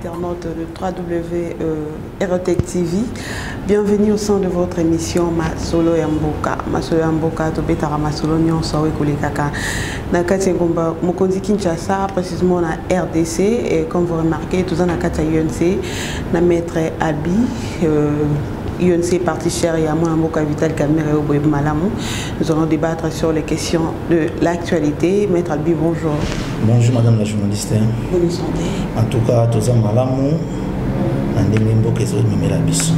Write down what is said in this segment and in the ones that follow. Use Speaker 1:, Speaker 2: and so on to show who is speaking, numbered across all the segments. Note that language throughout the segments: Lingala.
Speaker 1: internaute de www.rtectv. Euh, Bienvenue au sein de votre émission Masolo ya Mboka. Masolo ya Mboka tobetaka masolo nyonso oyo ekolekaka na kati ya ngomba mokonzi Kinshasa précisément na RDC et comme vous remarquez toza na kati ya UNC na maître Abi euh, UNC parti cher ya mwana mboka Vital Kamerhe oyo boyebi malamu nous allons débattre sur les questions de l'actualité maître Albi bonjour bonjour madame la
Speaker 2: journaliste bonne santé
Speaker 1: en tout cas toza
Speaker 2: malamu na ndenge mboka ezomemela biso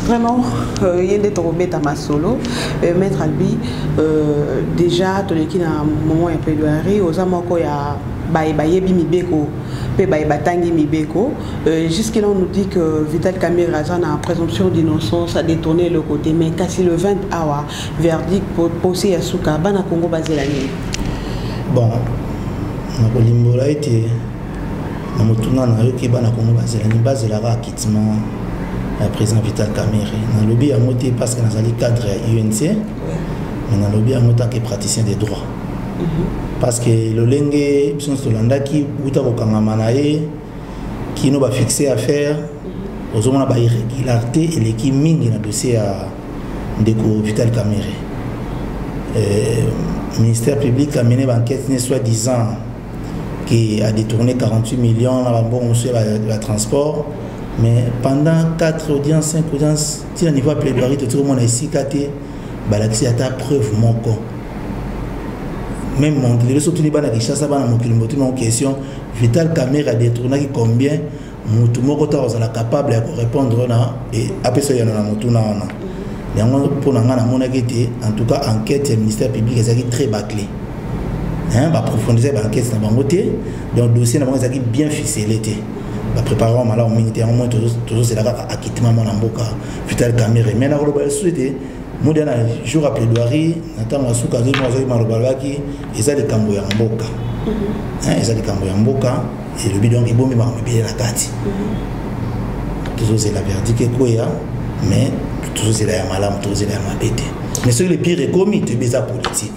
Speaker 2: vraiment
Speaker 1: euh, ye nde tokobeta masolo euh, maître albi euh, déjà toleki na moment ya plaidoirie oza moko ya baye bayebi mibeko mpe baye batangi mibeko Euh, jusque là on nous dit que Vital Kamere aza na présomption d'innocence a détourné le côté mais kasi le 20 awa verdict posé ya suka bana Congo bazela nini bon
Speaker 2: nakolimbola ete na motuna nayoki bana Congo bazela nini bazelaka acquittement ya président Vital Kamere nalobi yango te parce que nazali cadre ya UNC mais nalobi yango tant que praticien des droits mhm. parce que lolenge biso nyonso tolandaki uta kokangama na ye kino ba fixe affaire ozomona ba irrégularité eleki mingi na dossier ya ndeko vital camere euh, ministère public amene baenquête ne soit disant qui a détourné 48 millions na bambongo mosusu ya transport mais pendant 4 audience 5 audience ti na niveau ya plaidoirie totikomona esika te balakisi ata preuve moko même monde lelo sotuni bana kinshasa bana mokili motuni moko question vital camera détournaki combien motu moko ntango azala capable ya korépondre na e, apesa yano na motuna wana yango mpo na ngai namonaki ete en tout cas enquête ya ministère public ezalaki très baclé baprofondise baenquête na bango te donc dossier na bango ezalaki bien ficelé te baprépare yango malamu mingi te yango moi tozozela kaka akitima mwana mboka vital kamere me nakoloba lisusu ete mudia na jour ya plaidoirie na ntango ya suka azoi azoi maloba alobaki eza likambo ya mboka mhm. eza likambo ya mboka elobi donc ebomi makambo ebele na kati mhm. tozozela verdict ekweya mais tozozela ya malamu tozozela ya mabe te mais soki le pire ekomi toyebi eza politique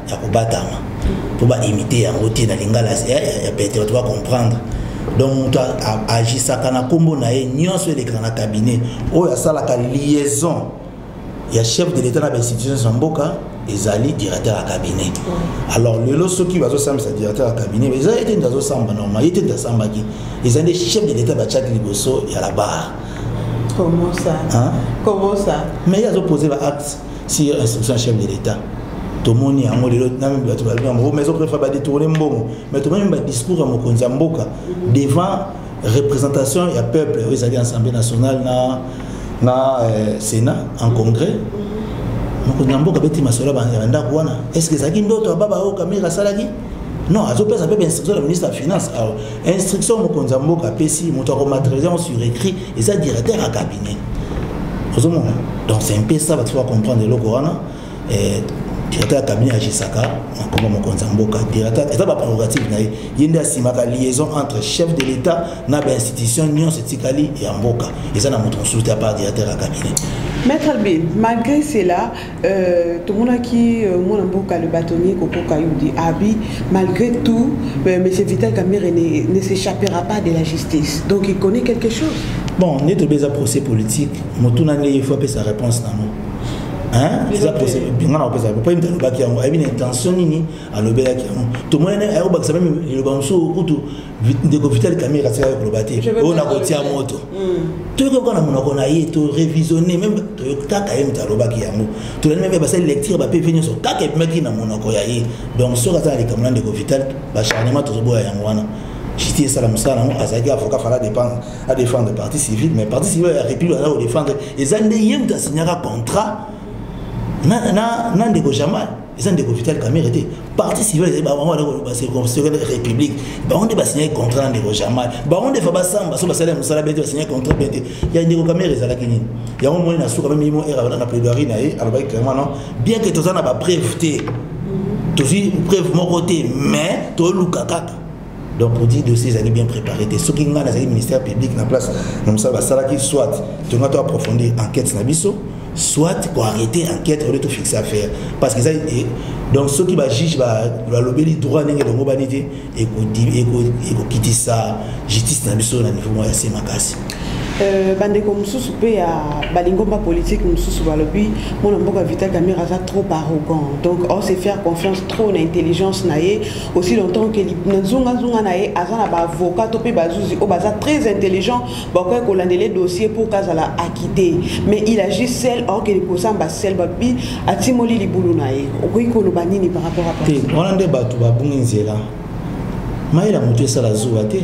Speaker 2: ya kobatama mpo baimite yango te na lingala ya pete bato bacomprendre donc moto agisaka na nkombo na ye nyonso elekaka na cabinet oyo asalaka liaison ya chef de l'état na bainstitutions ya mboka ezali directeur ya cabinet alors lelo soki bazosambisa directeur ya cabinet eza ye te nde azosamba normal ye te nde asambaki eza nde chef de l'état batiaki liboso ya la barre Comment
Speaker 1: ça hein? Comment
Speaker 2: ça
Speaker 1: Mais il y a opposé la
Speaker 2: acte. sur instruction chef de l'État. tomoni yango lelo nami bato balobi yango mais ezopréfère badetourne mbongo mais tomoni badiscours ya mokonzi ya mboka devant représentation ya peuple oyo ezali assemblée nationale na, na euh, sénat en congrès mokonzi ya mboka beti masolo ya bandako wana est ce que ezalaki ndoto ya baba oyo kamere asalaki non azopesa mpe bainstruction ya ministre ya finance instruction mokonzi ya mboka apesi moto akomaterialize yango sur écrit eza directeur ya cabinet ozomona donc c'est un peu ça bato bacomprendre eloko wana eh, directeur ya cabinet agisaka na nkombo mokonzi ya mboka directeur eza baprerogative na ye ye nde asimaka liaison entre chef de l'état na bainstitution nyonso etikali ya mboka eza na moto mosusu te apart directeur ya cabinet maître bin
Speaker 1: malgré cela Euh, tomonaki euh, mwana mboka le bâtonnier kokoka yudi abi malgré tout euh, monsieur vital kamere ne, ne s'échappera pas de la justice donc il connaît quelque chose bon nde tobe eza procès
Speaker 2: politique motuna nde ye faut apesa réponse nango eza procès nga na kopesa po yemta alobaki yango ayebi na intention nini alobelaki yango tomoni ayakobakisa meme liloba mosusu kutu ndeko vital kamere atikaki koloba te oyo nakotia moto hmm. toyoki kaka na monoko na ye torevisionne meme toyoki kaka ye moto alobaki yango tolandi meme basali lecture bapv nyonso kaka ebimaki na monoko ya ye donc soki aza na likambo na ndeko vital bacharnement tozoboya yango wana jiti esala mosala nango azalaki avocat fala dépendre adéfendre parti civile mais parti civile ya république aza kodéfendre eza nde ye moto asignaka contrat na ndeko jamal eza ndeko vital camere te parti civil ezali bango basekele république bango nde basignaki contrat na ndeko jamal bango nde fa basamba so basali ya mosala bete basignaki contrat bien te ya ndeko camere ezalaki nini yango moni na suka meme yimo era na plaidoirie na ye alobaki clairement non bien que toza na bapreuve te tozwi preuve moko te mais toluka kaka donc odi dossier ezalaki bien préparé te soki ngai nazalaki ministère public na place na mosala basalaki soit tonga to approfondir enquête na biso soit koarrete enquête ole tofixe affaire parce que eza eh, donc soki bajuge balobeli droit ndenge elongobani te ekokitisa justice na biso na niveau moko ya se makasi Euh, bandeko
Speaker 1: mosusu mpe ya balingomba politike mosusu balobi mwana mboka vital camere aza trop arrogant donc on se faire confiance trop na intelligence na ye aussi longtemps que na nzongazonga na ye aza na baavocat to mpe bazuzi oyo baza très intelligent bakoki kolandele dossier mpo kazala akite mais il agit sel orkeli kosamba sel babi atimoli libulu na ye okoki koloba nini par rapport a te wana nde bato
Speaker 2: babungi nzela mayela moto esala zuwa te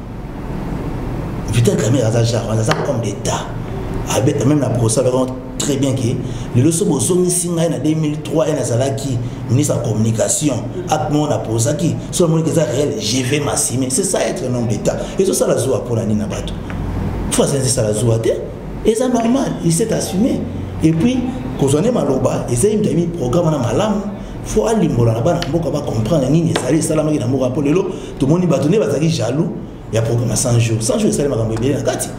Speaker 2: Vital Kamerhe aza genre wana aza homme d'état abe même na procès alobaki très bien ke lelo so bozongisi ngai na 2003 ye nazalaki ministre ya communication acte moko napozaki so namoniki eza réel je vais massime c'est ça être un homme d'état ezosala zuwa mpo na nini na bato fo asenzi esala zuwa te eza normal il s'est assumé et puis kozwa nde maloba eza ye moto ayebi programme wana malamu fo alimbola na bana mboka bacomprendre nini ezali esalamaki na mboka mpo lelo tomoni bato nde bazalaki jaloux ya programme ya 100 jours 100 jours esali makambo ebele na kati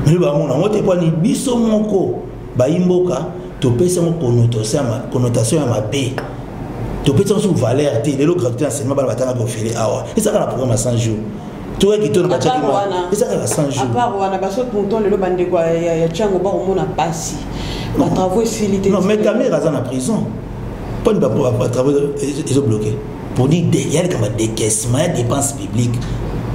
Speaker 2: mpe bamona yango te mponi biso moko bayi mboka topesi yango connotation ya mabe topesi yango sur valeur te lelo gratuité enseignement bana batanga bofele awa ezalaka na programme ya 100 jours toyaki to na batiaki ezalaka na 100 jours apart wana baso
Speaker 1: tonton lelo bandeko ya tiango bakomona mpasi batravaux esili te non mais kamera aza na
Speaker 2: prison mponi batravaux ezobloke poni ya likambo ya decaissement ya dépense publique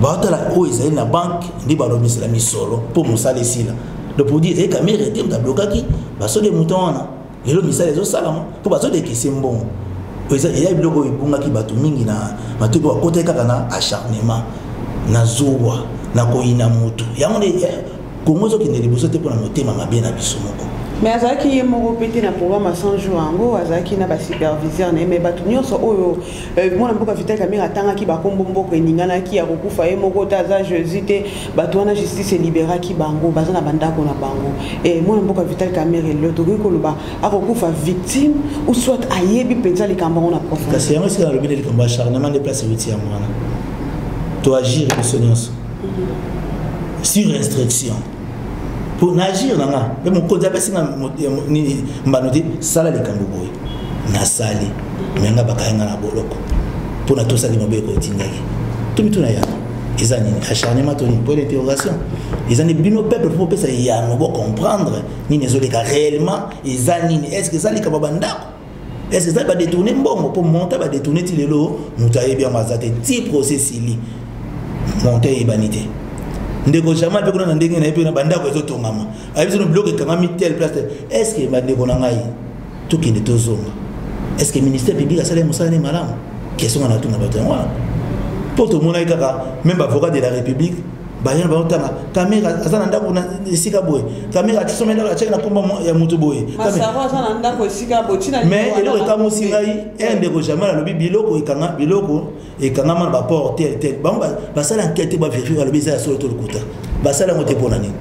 Speaker 2: baotala oyo ezali na banke nde balobisela misolo mpo mosala esila donc podi ezali kamere te moto ablokaki baso de mouton wana lelo misala ezosalama mpo bazodekese mbongo eza biloko oyo ebungaki bato mingi na matoi mpo bakotaki kaka na acharnement na zuwa na koyina motu yango nde eh, kongo ezokende liboso te mpona motema mabe na biso moko me azalaki ye
Speaker 1: moko mpe te na programme ya 100 jour yango azalaki na basuperviseur na ye me bato nyonso oyo euh, mwana mboka vital kamere atangaki bakombo mboka eninganaki ya kokufa ye moko te aza jésus te bato wana justice eliberaki bango baza na bandako na bango e mwana mboka vital kamere lelo tokoki koloba akokufa victime ou soit ayebi mpenza likambo yango na profkasi yango esika nalobi na likambo
Speaker 2: ya charnement nde place euti yango wana toagire biso nyonso sur instruction mpo na agir na nga mpe mokonzi apesi nga nini mbano te sala likambo boye nasali me nga bakaya nga na boloko mpo natosaki mobeko otindaki to mituna ya eza nini acharnement to nini point d'interrogation eza nde bino peuple mpo bopesa yano bocomprendre nini ezoleka réellement eza nini est ce que eza likambo bandako est-ce que ça va détourner mbongo pour monter va détourner ti lelo mutu ayebi yango aza te ti procès sili monte eyebani te ndeko jamal mpe kuna na ndenge na ye mpe na bandako ezotongama ayebi sono biloko ekangami tel place tel est ce que bandeko na ngai tokende tozonga est ce que ministère public asali mosala ne malamu kesonga na tuna bato yango wana mpo tomonaki kaka meme bavocat de la république baye baotala kamera aza na ndako na esika boye kamera atisome ndako atiaki na nkomba ya moto boye
Speaker 1: mais eloko ekamusi
Speaker 2: ngai e ndeko jamai alobi biloko ekanga biloko ekangama na baport tel tel bango basala enquete baverifie balobi eza ya solo to lokuta basala yango te mpo na nini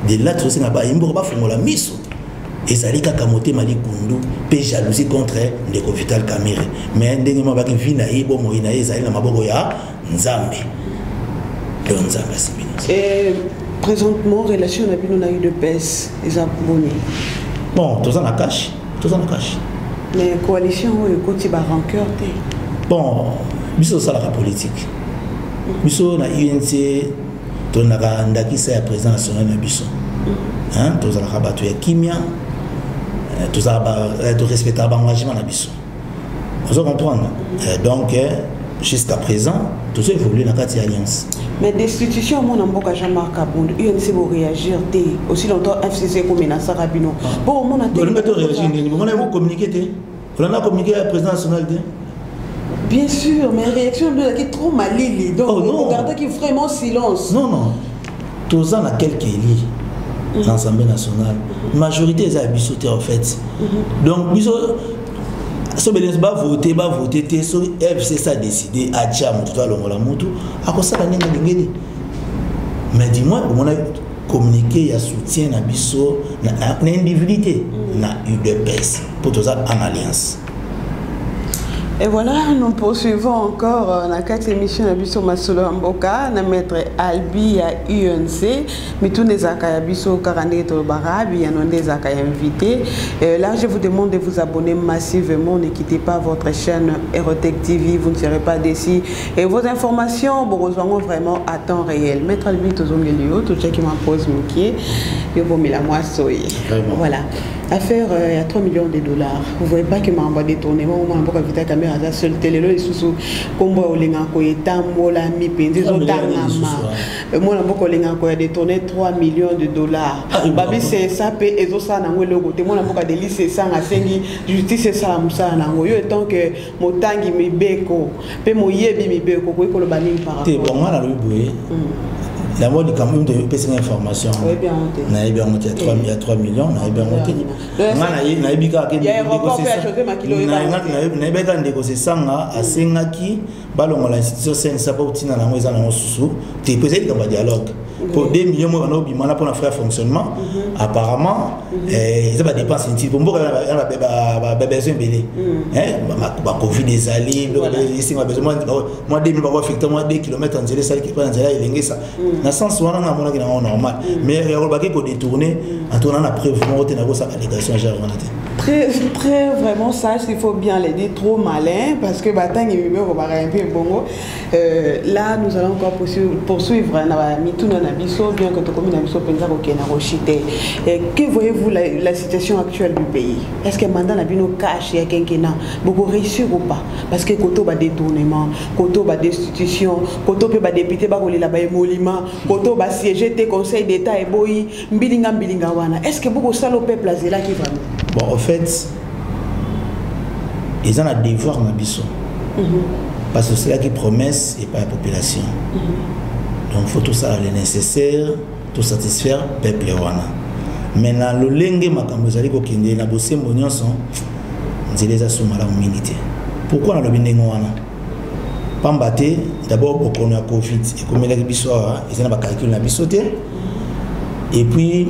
Speaker 2: de là tozosenga baye mboko bafongola miso ezali kaka motema likundu mpe jalousie contre ndeko vital camere mais ndenge mabaki vi na ye bomoi na ye ezali na maboko ya Nzambe. Yo Nzambe asimbi
Speaker 1: na Et présentement, relation na bino na eu de baisse, eza boni? Bon, toza
Speaker 2: na cash, toza na cash.
Speaker 1: Mais coalition oyo ekoti ba rancœur te. Bon,
Speaker 2: biso osalaka politique. Biso na UNC tolingaka ndakisa ya président national na biso. Hein, tozalaka bato ya kimia, eh, tozalaka eh, torespectaka ba engagement na biso. ozo comprendre euh, donc euh, jusqu'à présent tozo évolue na kati ya alliance mais destitution
Speaker 1: yango na mboka jean marc abund unc boréagir te aussi longtemps fcc ekomenasaka bino mpo ah. omona teolinga to réagir nini bomona
Speaker 2: yango communiqué te olanda communiqué ya président national te bien
Speaker 1: sûr mais réaction nde ezalaki trop malili donc oh, non. ogardaki vraiment silence non non
Speaker 2: toza na quelque elie mhm. na assemblée nationale mhm. majorité eza ya biso te en fait mhm. donc biso sobelenso bavote bavote te soki fcc adécide atya motu to alongola motu akosala ndenge alingeli mais du moins omona communiqué ya soutien na biso na individu te na udps mpo toza en alliance
Speaker 1: Et voilà, nous poursuivons encore euh, na kati émission na biso masolo ya mboka na maître Albi ya UNC. Mituna ezalaka ya biso kaka ndenge tolobaka, biyano nde ezalaka ya invité. Euh, là, je vous demande de vous abonner massivement, ne quittez pas votre chaîne Erotech TV, vous ne serez pas déçus. Et vos informations, bon, rejoignons vraiment à temps réel. Maître Albi, tozongeli yo, tochaki ma pause mukie, yo bomela mwa soye. Vraiment. Voilà. affaire euh, ya 3 millions de dollars vous voyez pas que makambo ya détournement au mwana mboka vita camera aza seul te lelo lisusu nkombo ya olingaka koya etambolami mpenza ezotangama euh, mwana mboka olingaka koya détourne 3 millions de dollars ah, babi sesa mpe ezosala nango eloko te mwana mboka delise esanga asengi justice esala mosala nango yo etant que motangi mibeko mpe moyebi mibeko okoki koloba nini parate bango wana alobi boye
Speaker 2: hmm. yango likambo mito epesi nga information nayebi
Speaker 1: yango te
Speaker 2: ya 3 million nayebi yango te nga nayebi kaka nayebi kaka ndeko sesanga hmm. asengaki balongola institution sensa mpo ntina na yango eza nango susu te mpo ezali likambo ya dialogue mpo 2 million moko ebanda kobima wana mpona frais ya fonctionnement mhm. apparemment mhm. eh, eza badépense inutile mpo mboka yana babesoin ebele mhm. eh, bacovid ezali esinga besoin mwa 2 mil bakoaffecte mwa 2 kilomètre ya nzela esaliki mpo na nzela elengesa na sens wana nga amonaki nango normal mais yakolobaki kodetourne antourna na preuve moko te nakosaka allegation genre wana te très,
Speaker 1: très vraiment sage, il faut bien le dire, trop malin, parce que Batang et Mibé, on va un peu bongo. Euh, là, nous allons encore poursuivre hein, na mituna na biso, bien que tokomi na biso penza kokena koshite. Que voyez-vous la, la situation actuelle du pays Est-ce que mandat na bino cash ya kenkena Boko réussir ou pas Parce que koto ba détournement, koto ba destitution, koto pe ba député ba kolela ba emolima, koto ba siéger te conseil d'état et boyi mbilinga mbilinga wana est ce que bokosala o peuple azelaki vraiment bon au fait
Speaker 2: eza na devoir na biso mhm. parce que osalaki promesse epai ya population mhm. donc faut tosala le nécessaire tosatisfaire peuple wana mais na lolenge makambo ezali kokende na bosembo nyonso nzela eza so malamu mingi te pourkui nalobi ndenge wana pamba te d'abord bokono ya covid ekomelaki biso awa eza na bacalcule na biso te et puis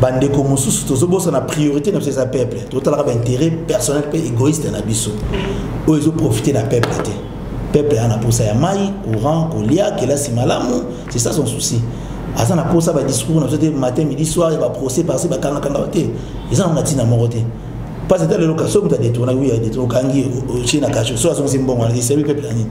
Speaker 2: bandeko mosusu tozobosana priorité na biso eza peuple totalaka baintérêt personnel mpe égoïste na biso oyo ezoprofite na peuple te peuple aza na mposa ya mai courant kolia kelasi malamu c'est ça son souci aza na mposa badiscours na biso te matin midi soir ya baprocès parci bakangakanga te eza nango na ntina moko te mpasi ata lelo kaso moto adetourna wi adetourna okangi otie na kasho so azongisi mbongo wana esebi peuple na nini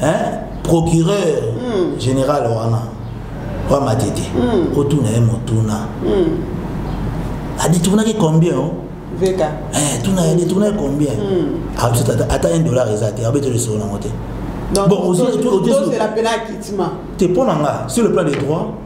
Speaker 2: hein procureur mm. général wana wa matete mm. otuna ye motuna mm. adetournaki combien oh? veka
Speaker 1: eh, tuna ye
Speaker 2: adetournaki combien mm. abisa ah, ata 1 dollar eza te abeteli solo nango te bon ozela mpe na
Speaker 1: kitima te mpo na nga
Speaker 2: sur le plan des droits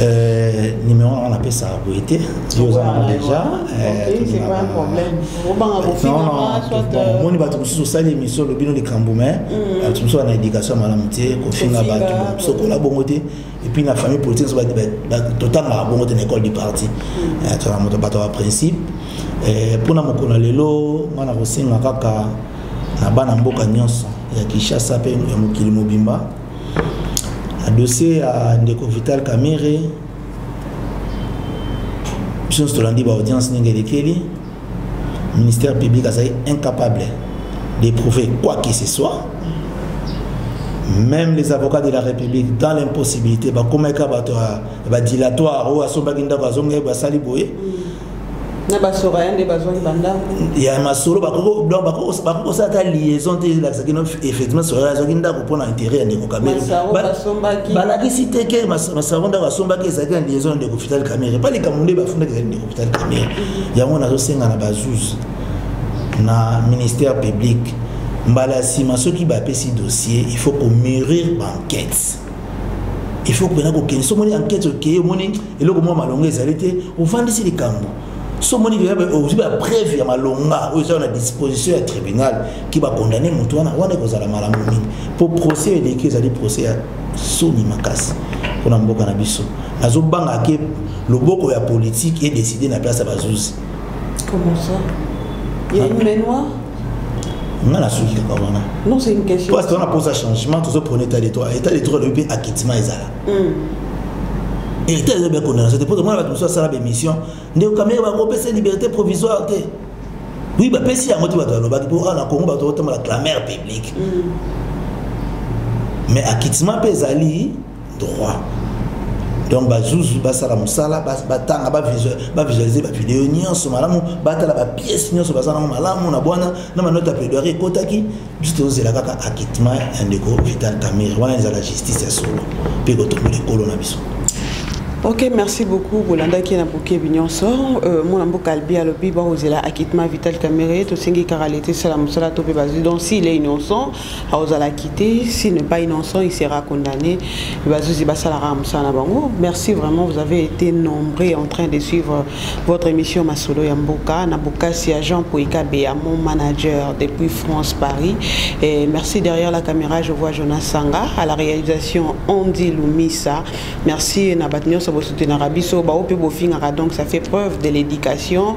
Speaker 1: Euh,
Speaker 2: numéro wana napesa boye te yo oza nango
Speaker 1: déjà omoni
Speaker 2: bato mosusu osali émission olobino likambo mais mm. bato mosusu na éducation malamu te kofinga bato sokola bongo te epuis na famille politique totangaka bongo te na école du parti mm. eh, tozala moto bato ya principe eh, mpo na mokolo ya lelo nga na kosenga kaka na bana mboka nyonso ya kinshasa mpe ya mokili mobimba na dossier ya ndeko vital kamere biso nyonso tolandi baaudience ndenge elekeli ministère public azali incapable d'éprouver quoi que ce soit même les avocats de la république dans l'impossibilité bakomaki kaka bato ya badilatoire oyo asombaki ndako azongaki basali boye na
Speaker 1: basoka ya nde bazwaki
Speaker 2: bandako ya masolo bakoki kosala ata liaison te elakisa kino effectivement soka azwaki ndako mpo na intérêt ya ndeko kamere balakisi te ke masaro ndako asombaki ezalaki na liaison ya ndeko fital kamere epa likambo nde bafundaki ezali ndeko fital kamere mhm. yango nazosenga na bazuzi na ministère public mbala ya nsima soki bapesi dossier il faut komurir banquete il faut mpena kokende so omoni enquête okeye omoni eloko mwa malonga ezali te ovandisi likambo so omoni ozwi bapreuve ya malonga oyo ezala na disposition ya tribunal ki bakondane motu wana wana ekozala malamu mingi mpo procès eleki ezali procès ya soni makasi mpona mboka na biso nazobanga ke loboko ya politike edeside na place ya bazuzi Comment ça?
Speaker 1: Il y a une main noire nga nasuki kaka wana
Speaker 2: parce que wana mposa changement tozo prone état de droit état de droit alobi mpe akitima ezala état eza bya condamnation te mpo tomona bato mosusu asala baémission ndeko kamere bakopesa liberté provisoire te oui bapesi yango te bato balobaki mpo awa na congo bato batambola clamere publique mais akitima mpe ezali droit donc bazuzu basala mosala batanga bavisualize bavideo nyonso malamu batala bapiece nyonso baza nango malamu na bwana na manote ya plaidoirie ekotaki biso tozozela kaka acquittement ya ndeko vital camere wana ezala justice ya solo mpe ekotombola ekolo na biso ok
Speaker 1: merci beaucoup bolandaki na bokebi nyonso euh, mwana mboka albi alobi bakozela acquittement vital camere tosengi kaka leta esala mosala to mpe bazwi donc s'il est innocent aozalaki te si ne pas innocent il sera condamné bazuzi basalaka mosala na bango merci vraiment vous avez été nombreux en train de suivre votre émission masolo ya mboka na bokasi ya jean poikabeya mon manager depuis france paris et merci derrière la caméra je vois jonas sanga à la réalisation andy lumisa merci na bato nyonso bosoutenaka biso bao mpe bofingaka donc ça fait preuve de l'éducation